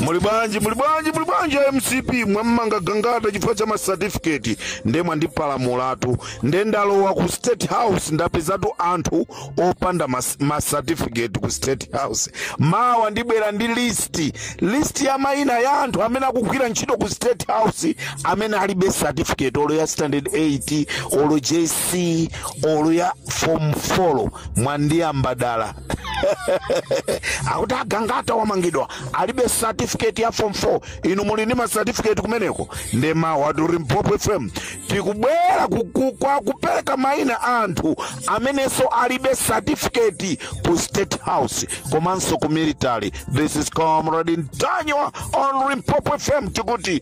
muli bwanji muli bwanji muli bwanji a mcp mwammanga gangata chifukwa cha masatifiketi nde mwandipalamulatu nde ndalowa ku state house ndapezatu anthu opanda mas- masatifiketi ku state house mawa ndibwera ndi listi listi ya mayina ya anthu amene akugwira ntchito ku state house amene alibe satifiketi olo ya standard 8 olo jc olo ya form 4 mwandiyamba dala akuti a gangata wamangidwa alibe certificate ya form 4 inu muli ndi ma certificate kumeneko nde mawatu limpopo fm tikubwera ku- ku- kwa kupereka maina a anthu amenenso alibe certificate ku state house komanso ku military this is comrade ntanyiwa on limpopo fm tikuti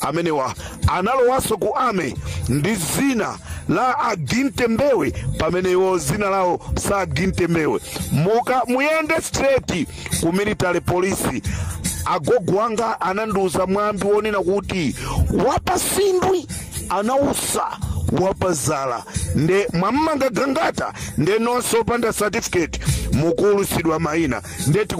amenewa analowanso ku army ndi zina la aginte mbewe pamene iwo zina lawo sa aginte mbewe muka muyende straight ku military police agogo wanga anandiuza mwambi wonena kuti wapasindwi anausa wapazala nde mwamanga gangata nde nonse opanda certificate mukuulutsidwa maina nde tiku-